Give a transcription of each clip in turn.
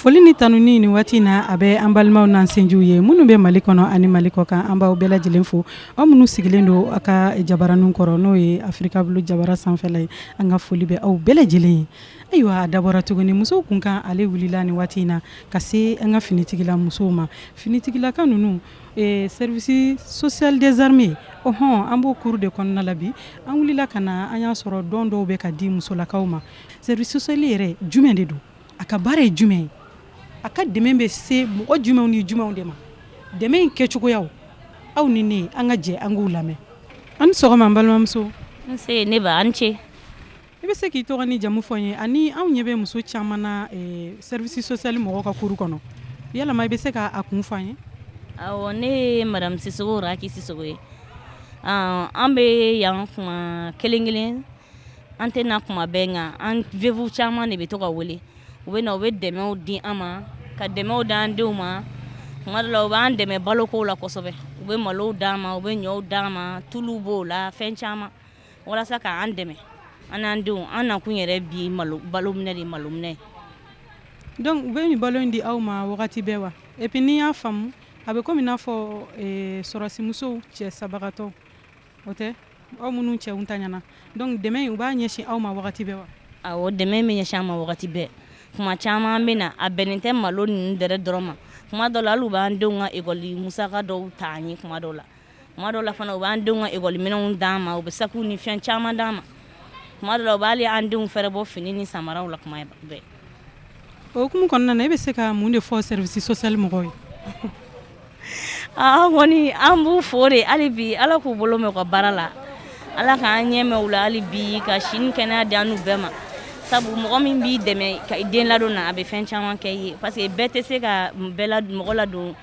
Foli ni tanuni ni waati in na a bɛ an balimaw n'an sinjiw ye minnu bɛ mali kɔnɔ ani mali kɔ kan an b'aw bɛɛ lajɛlen fo aw minnu sigilen don aw ka jabaranin kɔrɔ n'o ye Africable jabara sanfɛla ye an ka foli bɛ aw bɛɛ lajɛlen ye ayiwa a dabɔra tuguni musow kunkan ale wulila ni waati in na ka se an ka finitigila musow ma finitigilaka ninnu Ee service social des armées o hɔn an b'o kuru de kɔnɔna la bi an wulila ka na an y'a sɔrɔ don dɔw bɛ ka di musolakaw ma service social yɛrɛ jumɛn de don a ka baara ye jumɛn ye a ka dɛmɛ bɛ se mɔgɔ jumɛnw ni jumɛnw de ma dɛmɛ in kɛ cogoya aw ni ne an ka jɛ an k'u lamɛn a ni sɔgɔma balimamuso nse a ni ce i bɛ se k'i tɔgɔ n'i jamu fɔ an ye ani anw ɲɛ bɛ muso caman na service social mɔgɔw ka kuru kɔnɔ yala i bɛ se k'a kun fɔ an ye ne ye madamu sisoko raki sisoko ye an bɛ yan kuma kelen kelen an tɛ na kuma bɛɛ nka an veuves caman de bɛ to ka wele u bɛ u bɛ dɛmɛw di an ma ka dɛmɛw d'an denw ma kuma la u b'an dɛmɛ balo ko la kosɛbɛ u bɛ malow d'an ma u bɛ ɲɔ d'an ma tulu b'o la fɛn caman walasa k'an dɛmɛ an n'an denw an nakun yɛrɛ bi balo minɛ de malo minɛ dɔnku u bɛ nin balo in di aw ma wagati bɛɛ wa epi n'i y'a faamu a bɛ komi n'a fɔ eh, sɔrɔdasimusow cɛ sabagatɔw de aw minnu cɛw tɛ ɲɛnama dɔnku dɛmɛ u b'a ɲɛsin aw ma wagati bɛɛ wa awɔ dɛmɛ bɛ ɲɛsin an ma wagati bɛɛ kuma caman bɛ na a bɛnnen tɛ malo ninnu yɛrɛ dɔrɔn ma kuma dɔ la hali u b'an denw ka ekɔli musaka dɔw ta an ye kuma dɔw la kuma dɔw la fana u b'an denw ka ekɔli minɛnw d'an ma u bɛ sakiw ni fɛn caman d'an ma kuma dɔw la u b'ali an denw fɛɛrɛbɔ fini ni samaraw la kuma bɛɛ o hukumu kɔnɔna na e bɛ se ka mun de fɔ service social mɔgɔw ye an kɔni an b'u fo de hali bi ala k'u bolo mɛn u ka baara la ala k'an ɲɛ mɛn u la hali bi ka si ni kɛnɛya di an n'u bɛɛ ma sabu mɔgɔ min b'i dɛmɛ ka den ladon na a bɛ fɛn caman kɛ i ye parce que bɛɛ tɛ se ka bɛɛ la mɔgɔ ladon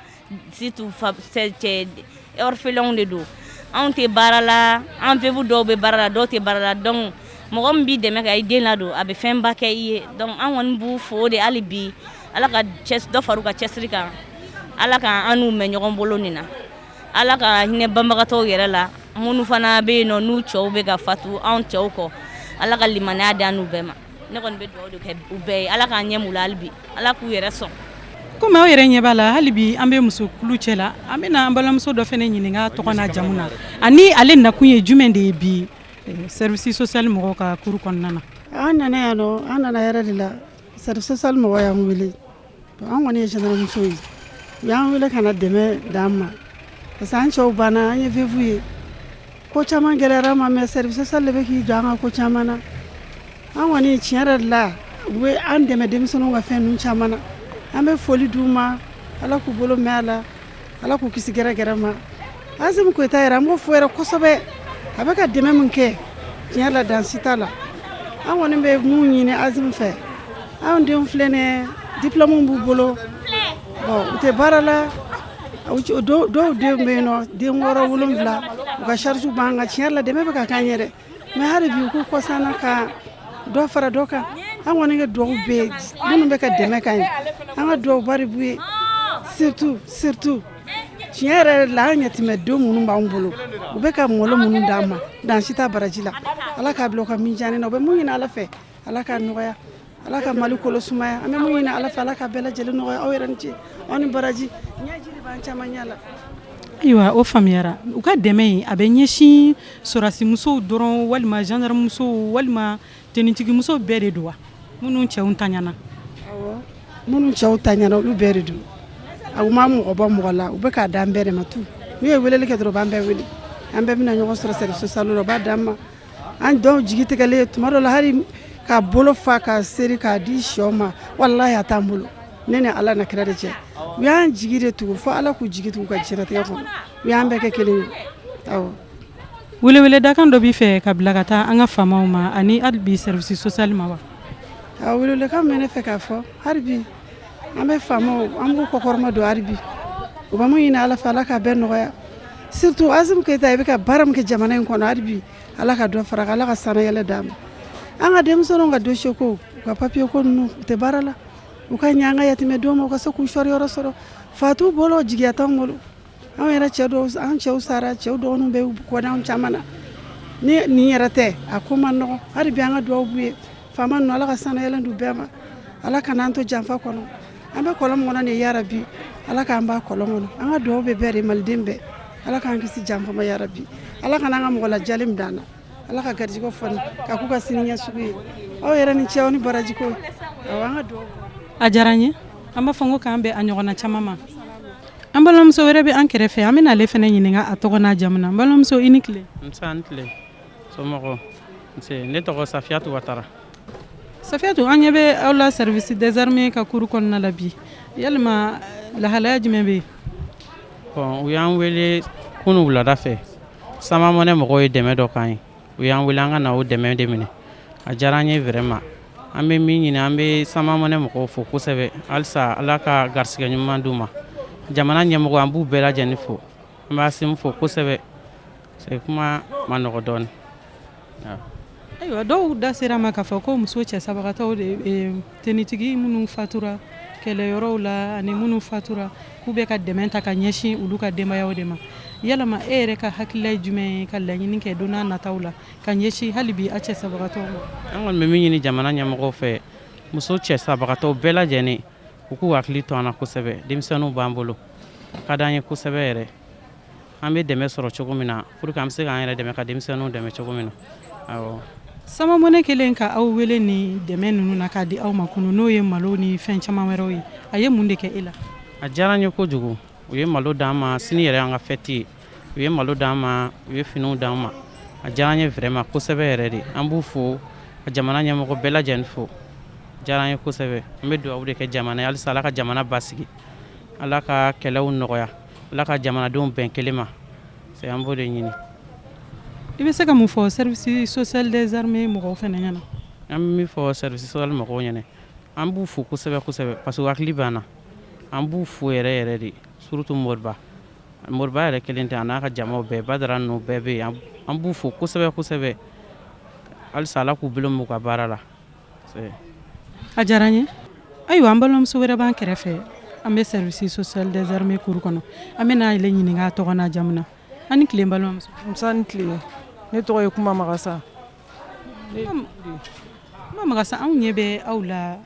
Surtout fa tɛ yen orphelinw de don anw tɛ baara la an veuves dɔw bɛ baara la dɔw tɛ baara la dɔnku mɔgɔ min b'i dɛmɛ k'i den ladon a bɛ fɛnba kɛ i ye dɔnku an kɔni b'u fo de hali bi ala ka dɔ fara u ka cɛsiri kan ala k' an n'u mɛn ɲɔgɔn bolo nin na ala ka hinɛ banbagatɔw yɛrɛ la minnu fana bɛ yen n'u cɛw bɛ ka fatu anw cɛw kɔ ala ka limaniya d'an n'u bɛɛ ma ne kɔni bɛ dugawu de kɛ u bɛɛ ye ala k'an ɲɛ mɛn u la hali bi ala k'u yɛrɛ sɔn komi aw yɛrɛ ɲɛ b'a la hali bi an bɛ musokulu cɛ la an bɛna an balimamuso dɔ fana ɲininka a tɔgɔ n'a jamu na ani ale nakun ye jumɛn de ye bi eh, service social mɔgɔw ka kuru kɔnɔna na an nana yan nɔ an nana yɛrɛ de la service social mɔgɔw y'an wele an kɔni ye cɛsamuso ye u y'an wele ka na dɛmɛ d'an ma parce que an cɛw banna an ye veuve ye ko caman gɛlɛyara an ma mɛ service social de bɛ k'i jɔ an kan ko caman na an kɔni tiɲɛ yɛrɛ de la u bɛ an dɛmɛ denmisɛnnin ka fɛn caman na an bɛ foli d'u ma ala k'u bolo mɛɛn a la ala k'u kisi gɛrɛgɛrɛ ma Asimi Goyita yɛrɛ an b'o fo yɛrɛ kosɛbɛ a bɛ ka dɛmɛ min kɛ tiɲɛ la dan si t'a la an kɔni bɛ mun ɲini Asimi fɛ anw denw filɛ ne diplɔmu b'u bolo bɔn u tɛ baara la dɔw denw bɛ yen nɔ den wɔɔrɔ wolonwula u ka charge b'an kan tiɲɛ la dɛmɛ bɛ ka k'an yɛrɛ mɛ hali bi u ko kɔsana ka dɔ fara dɔ kan an kɔni ka dugawu b'u ye minnu bɛ ka dɛmɛ k'an ye an ka dugawu bari b'u ye surtout surtout tiɲɛ yɛrɛ yɛrɛ la an yatimɛdenw minnu b'an bolo u bɛ ka malo minnu d'an ma dan si t'a baraji la ala k'a bila u ka minjani na u bɛ mun ɲini ala fɛ ala k'a nɔgɔya ala ka mali kolo sumaya an bɛ mun ɲini ala fɛ ala ka bɛɛ lajɛlen nɔgɔya aw yɛrɛ ni ce aw ni baraji ɲɛji de b'an caman ɲɛ la ayiwa o faamuyara u ka dɛmɛ in a bɛ ɲɛsin sɔrɔdasimusow dɔrɔn walima gendarmemusow walima tenitigimuso bɛɛ de don wa minnu cɛw taɲana minnu cɛw taɲana olu bɛɛ de don a ma mɔgɔ bɔ mɔgɔ la u bɛ k'a d'an bɛɛ de ma tu n'u ye weleli kɛ dɔrɔn u b'an bɛɛ wele an bɛɛ bɛna ɲɔgɔn sɔrɔ service social la u b'a d'an ma an dɔw jigi tigɛlen tuma dɔ la hali ka bolo fa ka seri k'a di shɛw ma walayi a t'an bolo ne ni ala n'a kira de cɛ u y'an jigi de tugu fo ala k'u jigi tugu ka jɛtigɛ kɔnɔ u y'an bɛɛ kɛ kelen ye welewele dakan dɔ b'i fɛ ka bila ka taa an ka faamaw ma ani hali bi service social ma wa a welewelekan bɛ ne fɛ k'a fɔ hali bi an bɛ faamaw an b'u kɔkɔrɔmadon halibi u bɛ mun ɲini ala fɛ ala ka bɛɛ nɔgɔya surtout Asimi Goyita i bɛ ka baara min kɛ jamana in kɔnɔ halibi ala ka dɔ fara ala ka sanayɛlɛn d'a ma an ka denmisɛnninw ka dossier ko u ka papier ko ninnu u tɛ baara la u ka ɲɛ an ka yatimɛdenw ma u ka se k'u sɔrɔ yɔrɔ sɔrɔ fa t'u bolo jigiya t'anw bolo anw yɛrɛ cɛ dɔw an cɛw sara cɛw dɔgɔninw bɛ kɔ da anw caman na ni nin yɛrɛ tɛ a ko man nɔgɔ hali bi an ka dugawu b'u ye faama ninnu ala ka sanayɛlɛn d'u bɛɛ ma ala kan'an to janfa kɔnɔ an bɛ kɔlɔn kɔnɔ de yarabi ala k'an bɔ kɔlɔn kɔnɔ an ka dugawu bɛ bɛɛ de maliden bɛɛ ala k'an kisi janfa ma yarabi ala kan'an ka mɔgɔ lajali min d'an na ala ka garijɛgɛ fɔni ka k'u ka siniɲɛsigi ye aw yɛrɛ ni ce aw ni baraji ko awɔ an ka dugawu a diyara an ye an b'a fɔ ko k'an bɛn a ɲɔgɔnna caman ma an balimamuso wɛrɛ bɛ an kɛrɛfɛ an bɛna ale fana ɲininka a tɔgɔ n'a jamu na n balimamuso i ni tile nse i ni tile somɔgɔw nse ne tɔgɔ safiyatu watara safiyatu an ɲɛ bɛ aw la service des armées ka cour kɔnɔna la bi yalima lahalaya jumɛn bɛ yen bɔn u y'an wele kunu wulada fɛ Sama Money mɔgɔw ye dɛmɛ dɔ k'an ye u y'an wele an ka na o dɛmɛ de minɛ a diyara an ye vraiment an bɛ min ɲini an bɛ Sama Money mɔgɔw fo kosɛbɛ halisa ala ka garisɛgɛ ɲuman d'u ma jamana ɲɛmɔgɔ an b'u bɛɛ lajɛlen fo an b'Asimi fo kosɛbɛ kuma ma nɔgɔ dɔɔnin ayiwa dɔw da sera ma k'a fɔ ko muso cɛ sabagatɔ de Finitigi minnu fatura kɛlɛyɔrɔw la ani minnu fatura k'u bɛ ka dɛmɛ ta ka ɲɛsin olu ka denbayaw de ma yalama e yɛrɛ ka hakilila ye jumɛn ye ka laɲini kɛ don nataw la ka ɲɛsin hali bi aw cɛ sabagatɔw ma an kɔni bɛ min ɲini jamana ɲɛmɔgɔ fɛ muso cɛ sabagatɔw bɛɛ lajɛlen u k'u hakili to an na kosɛbɛ denmisɛnninw b'an bolo a ka di an ye kosɛbɛ yɛrɛ an bɛ dɛmɛ sɔrɔ cogo min na pour que an bɛ se k'an yɛrɛ dɛmɛ ka denmisɛnninw dɛmɛ cogo min na awɔ Sama Money kɛlen ka aw wele ni dɛmɛ ninnu na k'a di aw ma kunu n'o ye malo ni fɛn caman wɛrɛw ye a ye mun de kɛ e la a diyara n ye kojugu u ye malo d'an ma sini yɛrɛ an ka fɛti ye u ye malo d'an ma u ye finiw d'an ma a diyara n ye vraiment kosɛbɛ yɛrɛ de an b'u fo ka jamana ɲɛmɔgɔ bɛɛ lajɛlen fo diyara n ye kosɛbɛ an bɛ dugawu de kɛ jamana ye halisa ala ka jamana basigi ala ka kɛlɛw nɔgɔya ala ka jamanadenw bɛn kelen ma c'est an b'o de ɲini i bɛ se ka mun fɔ service social des armées mɔgɔw fana ɲɛna an bɛ min fɔ service social mɔgɔw ɲɛna an b'u fo kosɛbɛ kosɛbɛ parce que u hakili b'an na an b'u fo yɛrɛ yɛrɛ de surtout moriba moriba yɛrɛ kelen tɛ a n'a ka jamaw bɛɛ badara ninnu bɛɛ bɛ yen an b'u fo kosɛbɛ kosɛbɛ halisa ala k'u bolo m'u ka baara la a diyara n ye ayiwa an balimamuso wɛrɛ b'an kɛrɛfɛ an bɛ service social des armées cours kɔnɔ an bɛna ale ɲininka a tɔgɔ n'a jamu na an ni tile n balimamuso musa ni tile ne tɔgɔ ye kumba magasa kumba magasa anw ɲɛ bɛ aw la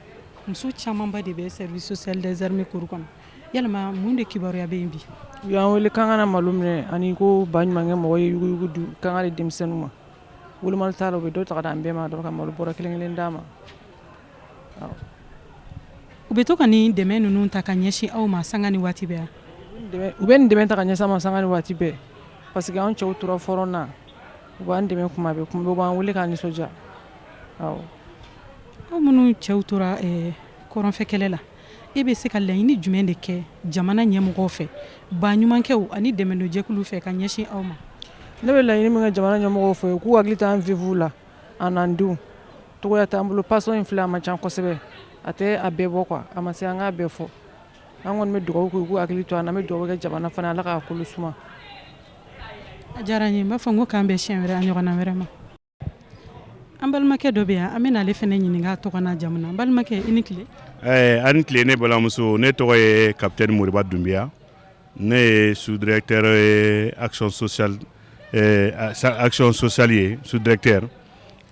muso camanba de bɛ service social des armées cours kɔnɔ yalima mun de kibaruya bɛ yen bi u y'an wele k'an ka na malo minɛ ani ko baɲumankɛ mɔgɔ ye yuguyugu di k'an k'a di denmisɛnninw ma Woloma taara u bɛ dɔ ta an bɛɛ ma dɔrɔn ka malo bɔrɛ kelen kelen d'an ma u bɛ to ka nin dɛmɛ ninnu ta ka ɲɛsin aw ma sanga ni waati yan u bɛ nin dɛmɛ ta ka ɲɛsin an ma sanga ni waati bɛɛ parce que an cɛw tora front na u b'an dɛmɛ kuma bɛɛ u b'an wele k'an nisɔndiya aw minnu cɛw tora kɔrɔnfɛ kɛlɛ la E bɛ se ka laɲini jumɛn de kɛ jamana ɲɛmɔgɔ fɛ baɲumankɛw ani dɛmɛjɛkulu fɛ ka ɲɛsin aw ma ne bɛ laɲini min kɛ jamana ɲɛmɔgɔ fɛ u k'u hakili to an veuves la an denw tɔgɔ t'an bolo pension in fili a man ca kosɛbɛ a tɛ a bɛɛ bɔ quoi a ma se an ka bɛɛ fɔ an kɔni bɛ dugawu kɛ hakili to an bɛ dugawu kɛ jamana fana ala k' kolo suma diyara n b'a fɔ ko k'an bɛ si wɛrɛ ɲɔgɔn wɛrɛ ma An balimakɛ dɔ bɛ yan an bɛna ale fana ɲininka a tɔgɔ n'a jamu na an balimakɛ i ni tile. Ɛɛ a' ni tile ne balimamuso ne tɔgɔ ye capitaine Moriba Dunbiya ne ye sous directeur ye action sociale action sociale ye sous directeur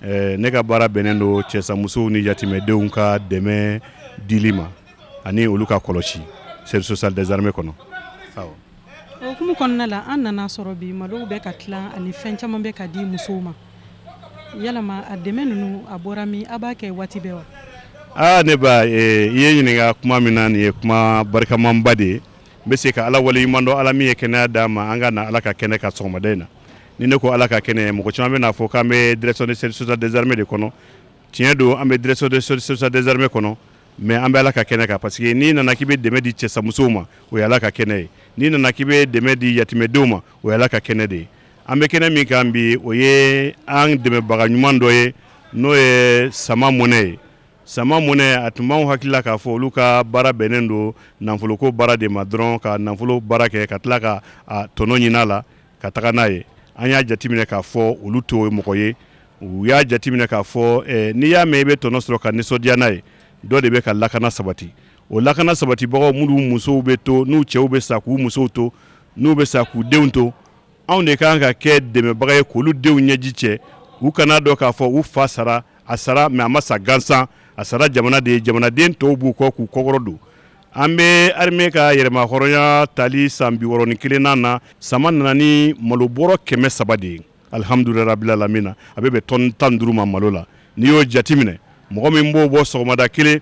ne ka baara bɛnnen don cɛsamusow ni yatimɛdenw ka dɛmɛ dili ma ani olu ka kɔlɔsi service social des armées kɔnɔ, awɔ. o hukumu kɔnɔna la an nana sɔrɔ bi malow bɛ ka tila ani fɛn caman bɛ ka di musow ma yalama a dɛmɛ ninnu a bɔra min a b'a kɛ waati bɛɛ wa aa ne ba eh, i ye n ɲininka kuma min na nin ye kuma barikamanba de ye n bɛ se ka ala waleɲuman dɔn ala min ye kɛnɛya d'an ma an ka na ala ka kɛnɛ kan sɔgɔmada in na ni ne ko ala ka kɛnɛ mɔgɔ caman bɛna fɔ k'an bɛ direction de service social des armées de kɔnɔ tiɲɛ don an bɛ direction de service social des armées kɔnɔ mais an bɛ ala ka kɛnɛ kan parce que n'i nana k'i bɛ dɛmɛ di cɛsamusow ma o ye ala ka kɛnɛ ye n'i nana k'i bɛ dɛmɛ di yatimɛdenw ma o ye ala ka kɛnɛ de ye an bɛ kɛnɛ min kan bi o ye an dɛmɛbaga ɲuman dɔ ye n'o ye Sama Money ye Sama Money a tun b'anw hakili la k'a fɔ olu ka baara bɛnnen don nafoloko baara de ma dɔrɔn ka nafolo baara kɛ ka tila ka a tɔnɔ ɲin'a la ka taga n'a ye an y'a jateminɛ k'a fɔ olu t'o mɔgɔ ye u y'a jateminɛ k'a fɔ eh, n'i y'a mɛn i bɛ tɔnɔ sɔrɔ ka nisɔndiya n'a ye dɔ de bɛ ka lakana sabati o lakana sabatibagaw minnu musow bɛ to n'u cɛw bɛ sa k'u musow to n'u bɛ sa k'u denw to anw de kan ka kɛ dɛmɛbaga ye k'olu denw ɲɛji cɛ u kana dɔn k'a fɔ u fa sara a sara mais a ma sa gansan a sara jamana de ye jamanaden tɔw b'u kɔ k'u kɔkɔrɔ don An bɛ armée ka yɛrɛmahɔrɔnya tali san biwɔɔrɔ ni kelennan na sama nana ni malo bɔrɔ kɛmɛ saba de ye alihamdulilahi rabil alamina a bɛ bɛn tɔni tan ni duuru ma malo la n'i y'o jateminɛ mɔgɔ min b'o bɔ sɔgɔmada kelen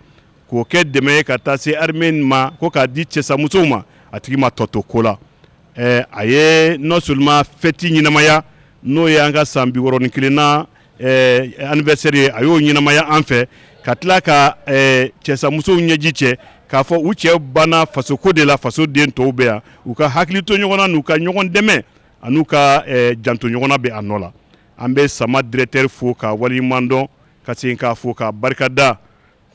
k'o kɛ dɛmɛ ye ka taa se armée ma ko k'a di cɛsamusow ma a tigi ma tɔ to ko la a ye non seulement fɛti ɲɛnamaya n'o y'an ka san biwɔɔrɔ ni kelennan eh, anniversaire ye a y'o ɲɛnamaya an fɛ ka tila ka eh, cɛsamusow ɲɛji cɛ k'a fɔ u cɛ banna fasoko de la fasoden tɔw bɛ yan u ka hakili to ɲɔgɔn na n'u ka ɲɔgɔn dɛmɛ an'u ka eh, janto ɲɔgɔn na bɛ a nɔ la an bɛ sama directeur fo k'a waleɲuman dɔn ka segin k'a fo k'a barika da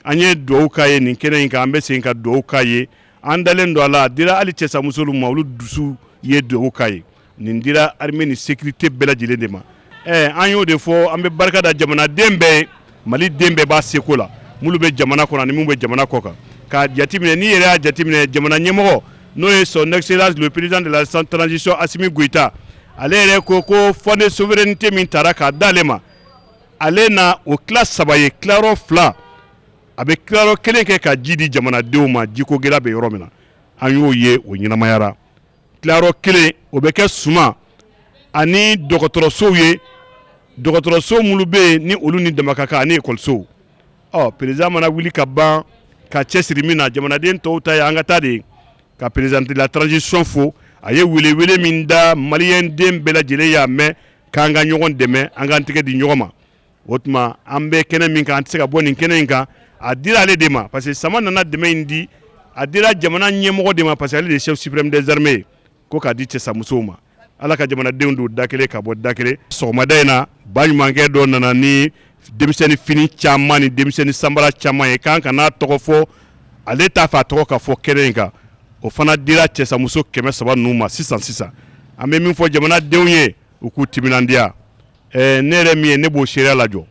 an ye dugawu k'a ye nin kɛnɛ in kan an bɛ segin ka dugawu k'a ye an dalen don a la a dira hali cɛsamusow ma olu dusu ye dugawu k'a ye nin dira armée ni sécurité bɛɛ lajɛlen de ma ɛ an y'o de fɔ an bɛ barika da jamanaden bɛɛ ye mali den bɛɛ b'a seko la minnu bɛ jamana kɔnɔ ani min bɛ jamana kɔkan k'a jateminɛ n'i yɛrɛ y'a jateminɛ jamana ɲɛmɔgɔ n'o ye son excellence le président de la transition asimi goyita ale yɛrɛ ko ko fonds de souveraineté min tara k'a d'ale ma ale na o tila saba ye tila fila a bɛ tila kelen kɛ ka ji di jamanadenw ma jiko gɛlɛya bɛ yɔrɔ min na an y'o ye o ɲɛnamayara tila kelen o bɛ kɛ suman ani dɔgɔtɔrɔsow ye dɔgɔtɔrɔso minnu bɛ yen ni olu ni dama kan ani ekɔlisow ɔ président mana wuli ka ban ka cɛ siri min na jamanaden tɔw ta ye an ka ta de ye ka président de la transition fo a ye welewele min da maliden bɛɛ lajɛlen y'a mɛn k'an ka ɲɔgɔn dɛmɛ an k'an tɛgɛ di ɲɔgɔn ma o tuma an bɛ kɛnɛ min kan an tɛ se ka bɔ nin kɛnɛ in kan a dira ale de ma parce que sama nana dɛmɛ in di a dira jamana ɲɛmɔgɔ de ma parce que ale de ye chef suprême des armées ye ko k'a di cɛsamusow ma ala ka jamanadenw don da kelen ka bɔ da kelen sɔgɔmada in na baɲumankɛ dɔ nana ni denmisɛnnin fini caman ni denmisɛnnin sanbara caman ye k'an kan'a tɔgɔ fɔ ale t'a fɛ a tɔgɔ ka fɔ kɛnɛ in kan o fana dira cɛsamuso kɛmɛ saba ninnu ma sisan sisan an bɛ min fɔ jamanadenw ye u k'u timinandiya ɛɛ ne yɛrɛ min ye ne b'o seereya lajɔ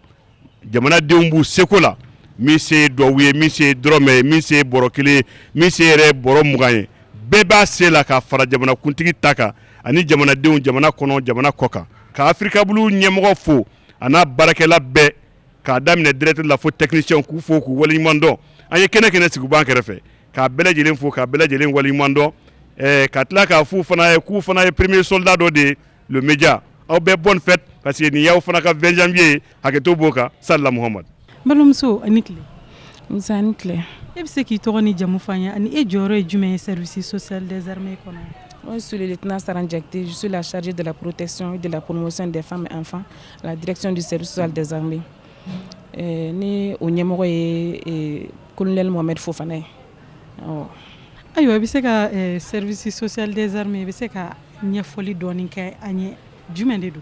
jamanadenw b'u seko la min se ye duwawu ye min se ye dɔrɔmɛ ye min se ye bɔrɔ kelen ye min se yɛrɛ ye bɔrɔ mugan ye bɛɛ b'a se la k'a fara jamanakuntigi ta kan ani jamanadenw jamana kɔnɔ jamana kɔkan ka africable ɲɛmɔgɔ fo a n'a baarakɛla bɛɛ k'a daminɛ directeur la fo technicien k'u fo k'u waleɲumandɔn ani kɛnɛ kɛnɛ sigi b'an kɛrɛfɛ k'a bɛɛ lajɛlen fo k'a bɛɛ lajɛlen waleɲumandɔn ka tila k'a fɔ u fana ye k'u fana ye premier soldat dɔ de ye média aw bɛɛ bonne fête parce que nin y'aw fana ka vingt janvier ye hakɛto b'o kan salla muhamad balimamuso a ni tile nse a ni tile e bɛ se k'i tɔgɔ ni jamu fɔ an ye ani e jɔyɔrɔ ye jumɛn ye service social des armées kɔnɔ Moi, je suis le lieutenant Saran Diakité, je suis la chargée de la protection et de la promotion des femmes et enfants à la direction du service social des armées. Euh, ni o ɲɛmɔgɔ ye euh, colonel Mohamed Fofana ye. Awɔ. Ayiwa, i bɛ se ka euh, service social des armées, i bɛ se ka ɲɛfɔli dɔɔni kɛ an ye jumɛn de don?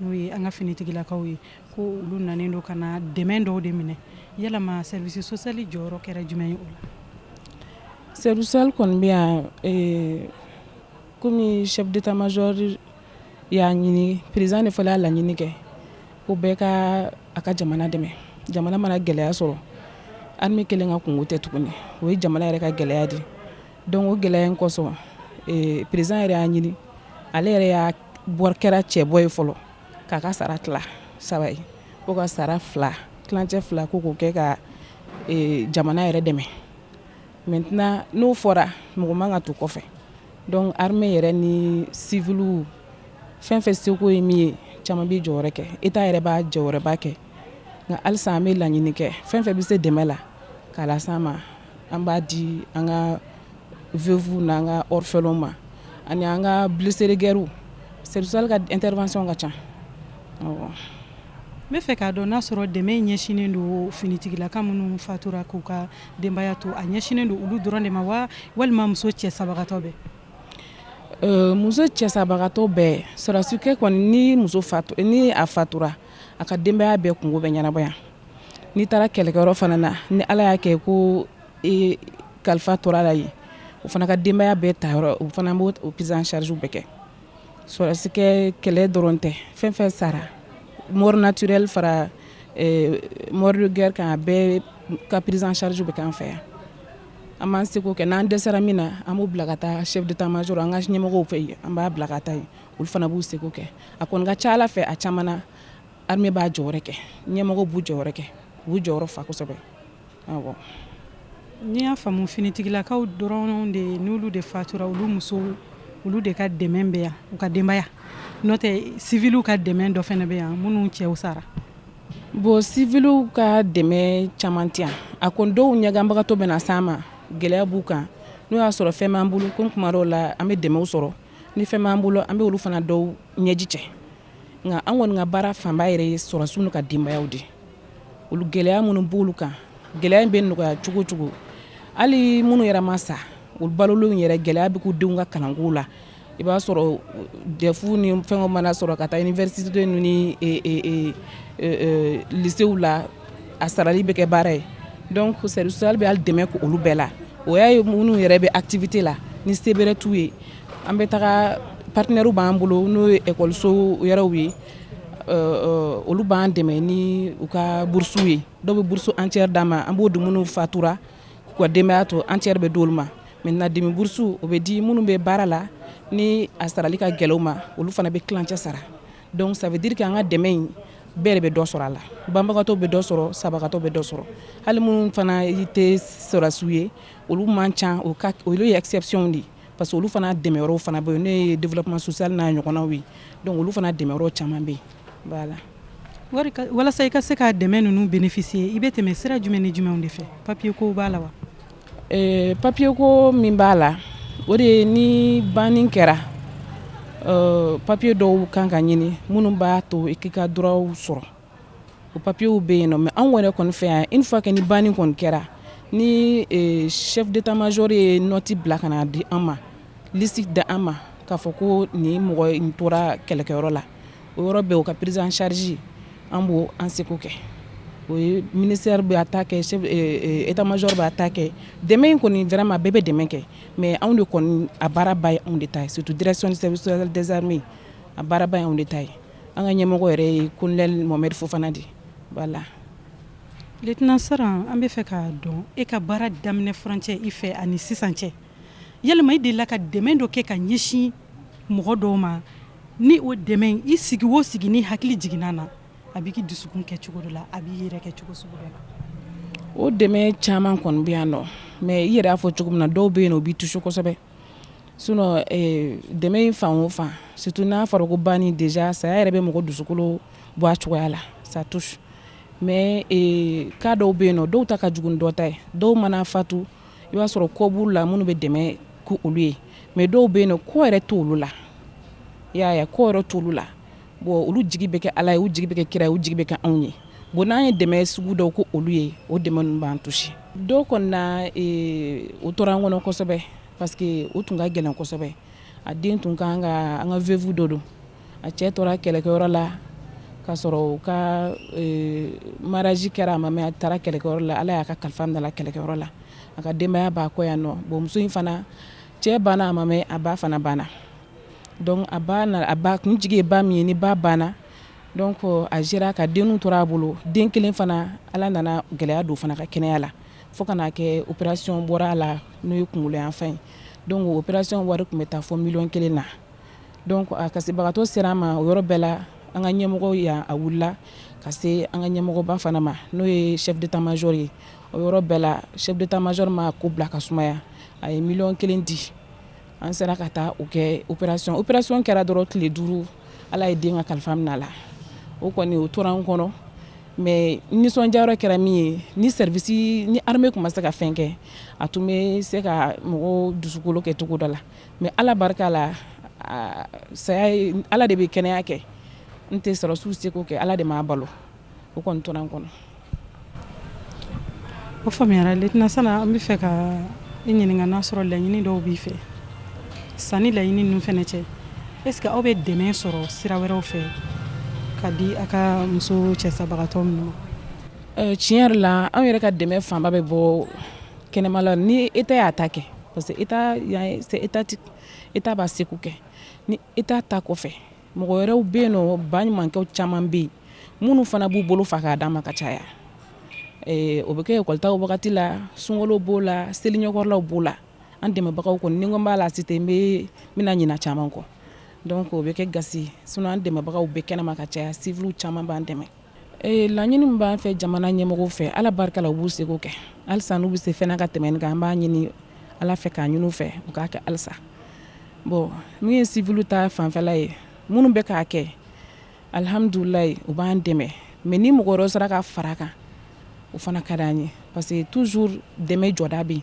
n'o ye an ka finitigilakaw ye ko olu nanen don ka na dɛmɛ dɔw de minɛ yɛlɛma service social jɔyɔrɔ kɛra jumɛn ye o la service social kɔni bɛ yan kɔmi chef d'état-major y'a ɲini président de fana y'a laɲini kɛ ko bɛɛ ka a ka jamana dɛmɛ jamana mana gɛlɛya sɔrɔ armée kelen ka kunko tɛ tuguni o ye jamana yɛrɛ ka gɛlɛya de ye donc gɛlɛya in kosɔn président yɛrɛ y'a ɲini ale yɛrɛ y'a bɔra kɛra cɛbɔ ye fɔlɔ k'a ka sara tila saba ye ko ka sara fila tilancɛ fila ko k'o kɛ ka jamana yɛrɛ dɛmɛ maintenant n'o fɔra mɔgɔ man ka to kɔfɛ donc armée yɛrɛ ni civil fɛn fɛn seko ye min ye caman b'i jɔyɔrɔ kɛ état yɛrɛ b'a jɔyɔrɔba kɛ nka halisa an bɛ laɲini kɛ fɛn fɛn bɛ se dɛmɛ la k'a las'a ma an b'a di an ka veuves n'an ka orphelins ma ani an ka blessés de guerre service social ka intervention ka ca, awɔ, n b'a fɛ k'a dɔn n'a sɔrɔ dɛmɛ in ɲɛsinnen don finitigilaka minnu fatura k'u ka denbaya to a ɲɛsinnen don olu dɔrɔn de ma wa walima muso cɛ sabagatɔ bɛɛ, euh muso cɛ sabagatɔ bɛɛ sɔrɔdasi kɛ kɔni ni muso fatura ni a fatura a ka denbaya bɛɛ kunko bɛ ɲɛnabɔ yan n'i taara kɛlɛkɛyɔrɔ fana na ni ala y'a kɛ ko kalifa tora la yen o fana ka denbaya bɛɛ ta yɔrɔ o fana b'o prise en charge bɛɛ kɛ parce que kɛlɛ dɔrɔn tɛ fɛn fɛn sara mort naturelle fara mort de guerre kan bɛɛ ka prise en charge bɛ k'an fɛ yan an b'an seko kɛ n'an dɛsɛra min na an b'u bila ka taa chef d'état-major an ka ɲɛmɔgɔ fɛ yen an b'a bila ka taa olu fana b'u seko kɛ a ko n ka ca ala fɛ a caman Armée b'a jɔyɔrɔ kɛ, ɲɛmɔgɔ b'u jɔyɔrɔ kɛ, u b'u jɔyɔrɔ fa kosɛbɛ, awɔ, n'i y'a faamu finitigilakaw dɔrɔn de n'olu de fatura olu musow olu de ka dɛmɛ bɛ yan u ka denbaya n'o tɛ civiliw ka dɛmɛ dɔ fana bɛ yan minnu cɛw sara bon civiliw ka dɛmɛ caman tɛ yan a ko dɔw ɲɛganbagatɔ bɛ na s'an ma gɛlɛya b'u kan n'o y'a sɔrɔ fɛn b'an bolo comme kuma dɔw la an bɛ dɛmɛw sɔrɔ ni fɛn b'an bolo an bɛ olu fana dɔw ɲɛji cɛ nka an kɔni ka baara fanba yɛrɛ ye sɔrɔdasiw n'u ka denbayaw de ye olu gɛlɛya minnu b'olu kan gɛlɛya in bɛ nɔgɔya cogo o cogo hali minnu yɛrɛ ma sa u balolenw yɛrɛ gɛlɛya bɛ k'u denw ka kalanko la i b'a sɔrɔ dɛfu ni fɛnw mana sɔrɔ ka taa université ninnu ni e, e, e, e, e lisew la a sarali bɛ kɛ baara ye donc service social bɛ hali dɛmɛ k'olu bɛɛ la o y'a ye minnu yɛrɛ bɛ activité la ni se bɛrɛ t'u ye an bɛ taga partenaires b'an bolo n'o ye ekɔliso wɛrɛw ye olu b'an dɛmɛ ni u ka burusiw ye dɔw bɛ burusu entière d'an ma an b'o di minnu fatura k'u ka denbaya to entière bɛ d'olu ma maintenant demi burusu o bɛ di minnu bɛ baara la ni a sarali ka gɛlɛn u ma olu fana bɛ tilancɛ sara donc ça veut dire que an ka dɛmɛ in bɛɛ de bɛ dɔ sɔrɔ a la banbagatɔ bɛ dɔ sɔrɔ sabagatɔ bɛ dɔ sɔrɔ hali minnu fana tɛ sɔrɔdasiw ye olu man ca olu ye exception de ye parce que olu fana dɛmɛ yɔrɔw fana bɛ yen n'o ye développement social n'a ɲɔgɔnnaw ye donc olu fana dɛmɛ yɔrɔ caman bɛ yen voilà wari walasa i ka se ka dɛmɛ ninnu bénéficier i bɛ tɛmɛ sira jumɛn ni jumɛnw de fɛ papier ko b'a la wa euh, papier ko min b'a la o de ye ni banni kɛra euh, papier dɔw kan ka ɲini minnu b'a to i k'i ka droits sɔrɔ o papiyew bɛ yen nɔ mais anw yɛrɛ kɔni fɛ yan une fois que ni banni kɔni kɛra ni chef d'état major ye note bila ka na di an ma liste di an ma k'a fɔ ko nin mɔgɔ in tora kɛlɛkɛyɔrɔ la o yɔrɔ bɛɛ o ka prise en charge an b'o an seko kɛ o ye ministère b'a ta kɛ chef état major b'a ta kɛ dɛmɛ in kɔni vraiment bɛɛ bɛ dɛmɛ kɛ mais anw de kɔni a baara ba ye anw de ta ye surtout direction du service social des armées a baara ba ye anw de ta ye an ka ɲɛmɔgɔ yɛrɛ ye kolonɛli mohamed fofana de voilà letna saran an bɛ fɛ k'a dɔn e ka baara daminɛ furancɛ i fɛ ani sisan cɛ yalama i delila ka dɛmɛ dɔ kɛ ka ɲɛsin mɔgɔ dɔw ma ni o dɛmɛ i sigi o sigi n'i hakili jiginna na a b'i dusukun kɛ cogo dɔ la a b'i yɛrɛ kɛ cogo sugu dɔ la o dɛmɛ caman kɔni bɛ yan nɔ mais i yɛrɛ y'a fɔ cogo min na dɔw bɛ yen o b'i tusi kosɛbɛ sinon ee dɛmɛ in fan o fan surtout n'a fɔra ko banni déjà saya yɛrɛ bɛ mɔgɔ dusukolo bɔ a cogoya la ça touche mais ee cas dɔw bɛ yen nɔ dɔw ta ka jugu ni dɔ ta ye dɔw mana fatu i b'a sɔrɔ kɔ b'u la minnu bɛ dɛmɛ k'olu ye mais dɔw bɛ yen nɔ kɔ yɛrɛ t'olu la i y'a ye kɔ yɛrɛ t'olu la bon olu jigi bɛ kɛ ala ye u jigi bɛ kɛ kira u jigi bɛ kɛ anw ye bon n'an ye dɛmɛ sugu dɔw k'olu ye o dɛmɛ ninnu b'an tusi dɔw kɔni na eh, o tora an kɔnɔ kosɛbɛ parce que o tun ka gɛlɛn kosɛbɛ a den tun ka kan ka an ka vevu dɔ don a cɛ tora kɛlɛkɛyɔrɔ la k'a sɔrɔ u ka eh, mariage kɛra a ma mɛɛn a taara kɛlɛkɛyɔrɔ la ala y'a ka kalifa minɛ a la kɛlɛkɛyɔrɔ la a ka denbaya b'a kɔ yan nɔ bon muso in fana cɛ banna a ma mɛɛn a ba fana banna Donc a ba na a ba kun jigi ye ba min ye ni ba banna donc a jɛra ka denninw to a bolo den kelen fana Ala nana gɛlɛya don o fana ka kɛnɛya la fo ka n'a kɛ operation bɔra a la n'o ye kunkolo yan fan ye donc o operation wari tun bɛ taa fo miliyɔn kelen na donc a kasibagatɔ sera an ma o yɔrɔ bɛɛ la an ka ɲɛmɔgɔ yan a wulila ka se an ka ɲɛmɔgɔba fana ma n'o ye chef d'état major ye o yɔrɔ bɛɛ la chef d'état major ma ko bila ka sumaya a ye miliyɔn kelen di an sera ka taa o kɛ operation operation kɛra dɔrɔn tile duuru ala ye den ka kalifa minɛ a la o kɔni o tora an kɔnɔ mais nisɔndiyayɔrɔ kɛra min ye ni service ni armée tun ma se ka fɛn kɛ a tun bɛ se ka mɔgɔw dusukolo kɛ cogo dɔ la mais ala barika la saya ye ala de bɛ kɛnɛya kɛ n tɛ sɔrɔdasiw y'u seko kɛ ala de m'a balo o kɔni tora an kɔnɔ o faamuyara letna saran an bɛ fɛ ka i ɲininka n'a sɔrɔ laɲini dɔw b'i fɛ sani laɲini ninnu fana cɛ est ce que aw bɛ dɛmɛ sɔrɔ sira wɛrɛw fɛ ka di a ka muso cɛsabagatɔ ninnu tiɲɛ yɛrɛ la an yɛrɛ ka dɛmɛ fanba bɛ bɔ kɛnɛma la ni état y'a ta kɛ parce que e état b'a seko kɛ État ta kɔfɛ mɔgɔ wɛrɛw bɛ yen nɔ ba ɲumankɛ caman bɛ yen minnu fana b'u bolo fa k'a d'an ma ka caya o bɛ kɛ ekɔli ta wagati la sunkalo b'o la seli ɲɛkɔrɔlaw b'o la an dɛmɛbagaw kɔni ni n ko n b'a laciter n bɛna ɲinɛ caman kɔ donc o bɛ kɛ gasi sinon an dɛmɛbagaw bɛ kɛnɛma ka caya civil caman b'an dɛmɛ Ee laɲini min b'an fɛ jamana ɲɛmɔgɔw fɛ Ala barika la u b'u seko kɛ halisa n'u bɛ se fɛn na ka tɛmɛ nin kan an b'a ɲini Ala fɛ k'a ɲini u fɛ u k'a kɛ halisa bon min ye civil ta fanfɛla ye minnu bɛ k'a kɛ alihamudulaahi u b'an dɛmɛ mais ni mɔgɔ wɛrɛw sera ka fara a kan o fana ka d'an ye parce que toujours dɛmɛ jɔda bɛ yen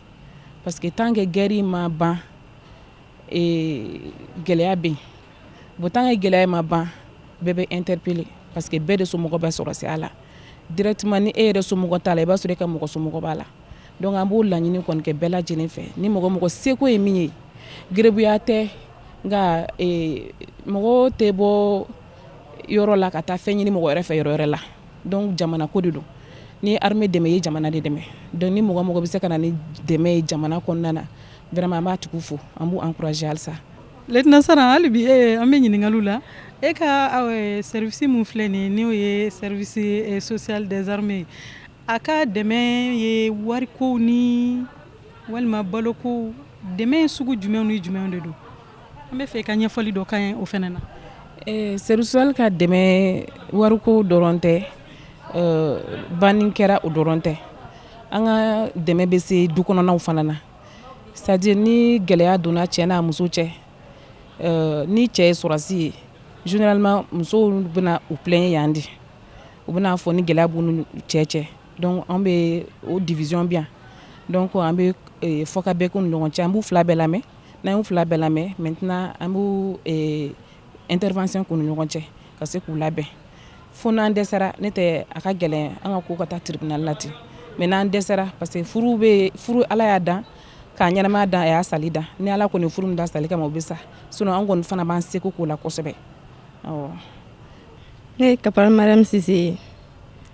parce que tant que guerre in ma ban ee gɛlɛya bɛ yen Bon tant que gɛlɛya ma ban bɛɛ bɛ interpellé parce que bɛɛ de somɔgɔw bɛ sɔrɔdasiya la directement ni e yɛrɛ somɔgɔ t'a la i b'a sɔrɔ e ka mɔgɔ somɔgɔ b'a la donc an b'o laɲini kɔni kɛ bɛɛ lajɛlen fɛ ni mɔgɔ mɔgɔ seko ye min ye garibuya tɛ nka mɔgɔ tɛ bɔ yɔrɔ la ka taa fɛn ɲini mɔgɔ wɛrɛ fɛ yɔrɔ wɛrɛ la donc jamana ko de don ni i y'an dɛmɛ i ye jamana de dɛmɛ donc ni mɔgɔ mɔgɔ bɛ se ka na ni dɛmɛ ye jamana kɔnɔna na vraiment an b'a tigi fo an b'a encourager halisa Lieutenant Sara hali bi ee an bɛ ɲininkali la e ka service min filɛ nin n'o ye service social des armées ye a ka dɛmɛ ye wari ko ni walima balo ko dɛmɛ sugu jumɛn ni jumɛn de don an b'a fɛ i ka ɲɛfɔli dɔ k'an ye o fana na service social ka dɛmɛ wariko dɔrɔn tɛ ban kɛra o dɔrɔn tɛ an ka dɛmɛ bɛ se du kɔnɔnaw fana na C'est-à-dire ni gɛlɛya donna cɛ n'a muso cɛ ni cɛ ye sɔrɔdasi ye généralement musow bɛna u plaindre yan de u bɛna a fɔ ni gɛlɛya b'u n'u cɛ cɛ an bɛ o division bɛ yan donc an bɛ fɔkabɛn k'u ni ɲɔgɔn cɛ an b'u fila bɛɛ lamɛn n'an y'u fila bɛɛ lamɛn maintenant an intervention k'u ni ɲɔgɔn cɛ ka se k'u labɛn fo n'an dɛsɛra n'o tɛ a ka gɛlɛn an ka k'u ka taa tribunal la dɛ mais n'an dɛsɛra parce que furu bɛ furu ala y'a dan k'a ɲɛnamaya dan a y'a sali dan ni ala kɔni furu min dan sali kama o bɛ sa sinon an kɔni fana b'an seko k'o la kosɛbɛ ne ye kamara min sisanse ye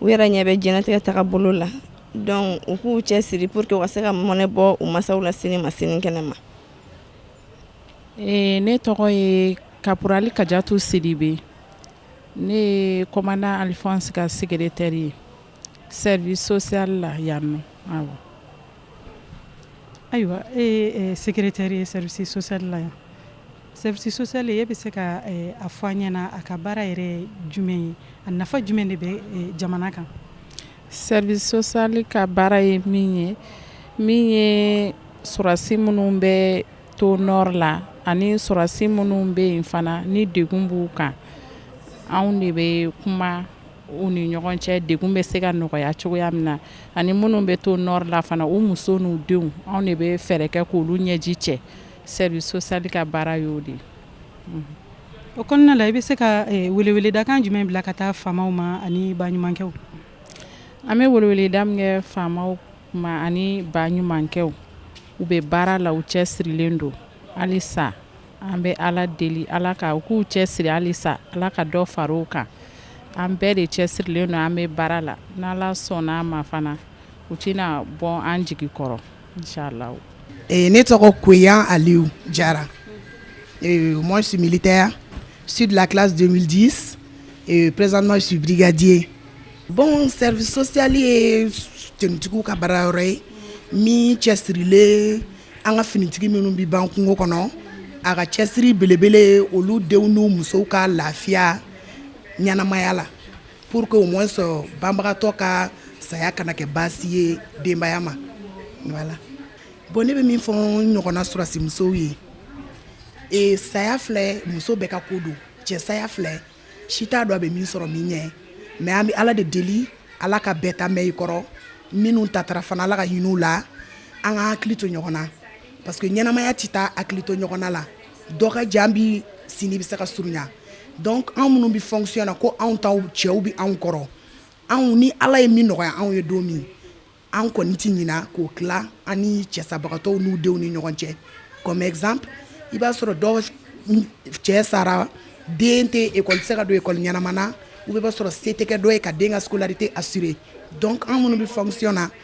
u yɛrɛ ɲɛ bɛ jtigɛ taga bolo la dɔnku u k'u cɛ siri pur que ka se ka mɔnɛ bɔ u masaw la sini ma sini kɛnɛ ma ee ne tɔgɔ ye kaurali ka jato siri bɛ ne kɔ ali fɔsi ka sɛgɛrɛ teri ye sɛri sɔsiyali la ya mɛn ayiwa ee sɛgɛrɛre teri ye sɛrisili la yan Service social e bɛ se ka a fɔ an ɲɛna a ka baara yɛrɛ jumɛn ye a nafa jumɛn de bɛ jamana kan service social ka baara ye min ye min ye sɔrɔdasi minnu bɛ to nord la ani sɔrɔdasi minnu bɛ yen fana ni degun b'u kan anw de bɛ kuma u ni ɲɔgɔn cɛ degun bɛ se ka nɔgɔya cogoya min na ani minnu bɛ to nord la fana u muso n'u denw anw de bɛ fɛɛrɛ kɛ k' olu ɲɛji cɛ Service social ka baara y'o de o kɔnɔna la i bɛ se ka weleweledakan jumɛn bila ka taa faamaw ma ani baɲumankɛ an bɛ weleweleda min kɛ faamaw ma ani baɲumankɛw u bɛ baara la u cɛ sirilen don hali sa an bɛ ala deli ala ka u k'u cɛ siri hali sa ala ka dɔ fara u kan an bɛɛ de cɛ sirilen don an bɛ baara la n'Ala sɔnna an ma fana u tɛna bɔ an jigi kɔrɔ ne tɔgɔ ko ali jara mɔ sigilenli tɛya si kiladi perezma sudijɛ bon sɛsili ye ttigi ka bara yɔrɔ ye min cɛ sirilen an ka finitigi minnu bɛ ban kungo kɔnɔ a ka cɛsiri belebele olu denw n musow ka lafiya ɲɛnaanamaya la Pour que au moins banbagatɔ ka saya kana kɛ baasi ye denbaya ma voilà bon ne bɛ min fɔ n ɲɔgɔnna sɔrɔdasimusow ye ee saya filɛ muso bɛɛ ka ko don cɛ saya filɛ si t'a dɔn a bɛ min sɔrɔ min ɲɛ mais an bɛ Ala de deli Ala ka bɛɛ ta mɛn i kɔrɔ minnu tatara fana Ala ka hin'u la an ka hakili to ɲɔgɔn na parce que ɲɛnamaya tɛ taa hakili to ɲɔgɔnna la dɔ ka jan bi sini bɛ se ka surunya donc anw minnu bɛ fonction na ko anw taw cɛw bɛ anw kɔrɔ anw ni Ala ye min nɔgɔya anw ye don min an kɔni tɛ ɲina k'o tila an ni cɛsabagatɔw n'u denw ni ɲɔgɔn cɛ comme exemple i b'a sɔrɔ dɔ cɛ sara den tɛ école tɛ se ka don école ɲɛnama na ou bien i b'a sɔrɔ se tɛ kɛ dɔ ye ka den ka scolarité assurer donc anw minnu bɛ fonction na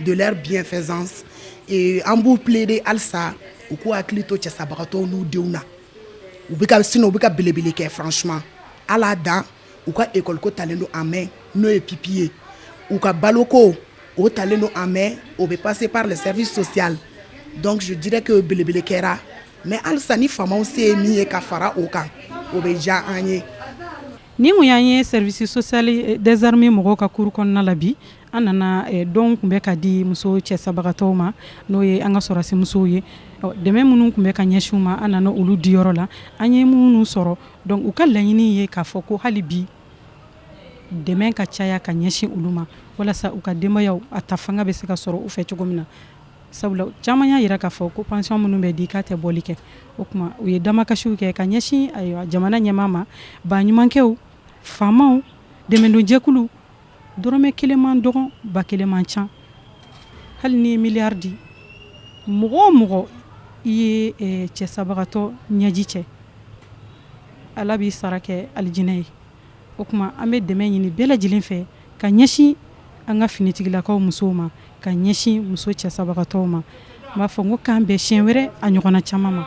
Gɛlɛya bienfaisants an b'u plaider halisa u k'u hakili to cɛsabagatɔw n'u denw na sinon u bɛ ka belebele kɛ franchement voilà denw ka ekɔliko talen don en main n'o ye pupilles ye u ka baloko o talen don en main o bɛ passer par le service social donc je dirais que belebele kɛra mais halisa ni faama se ye min ye ka fara o kan o bɛ diya an ye nin ko y' ye service social des armées mɔgɔ ka kuru kɔnɔna la bi An nana dɔn tun bɛ ka di muso cɛ sabagatɔw ma n'o ye an ka sɔrɔdasimuso ye dɛmɛ minnu tun bɛ ka ɲɛsin u ma an nana olu di yɔrɔ la an ye minnu sɔrɔ dɔnku u ka laɲini ye k'a fɔ ko hali bi dɛmɛ ka caya ka ɲɛsin olu ma walasa u ka denbaya a ta fanga bɛ se ka sɔrɔ u fɛ cogo min na sabula caman y'a jira k'a fɔ ko pansiyɔn minnu bɛ di k'a tɛ bɔli kɛ o tuma u ye damakasiw kɛ ka ɲɛsin jamana ɲɛmaa ma baɲumankɛ faamaw dɛmɛdonjɛkulu dɔrɔmɛ kelen man dɔgɔn ba kelen man ca hali n'i ye miliyari di mɔgɔ o mɔgɔ i ye eh, cɛ sabagatɔ ɲɛji cɛ ala b'i sara kɛ alijinɛ ye o tuma an bɛ dɛmɛ ɲini bɛɛ lajɛlen fɛ ka ɲɛsin an ka finitigilakaw musow ma ka ɲɛsin muso cɛ sabagatɔw ma n b'a fɔ n ko k'an bɛn siɲɛ wɛrɛ a ɲɔgɔnna caman ma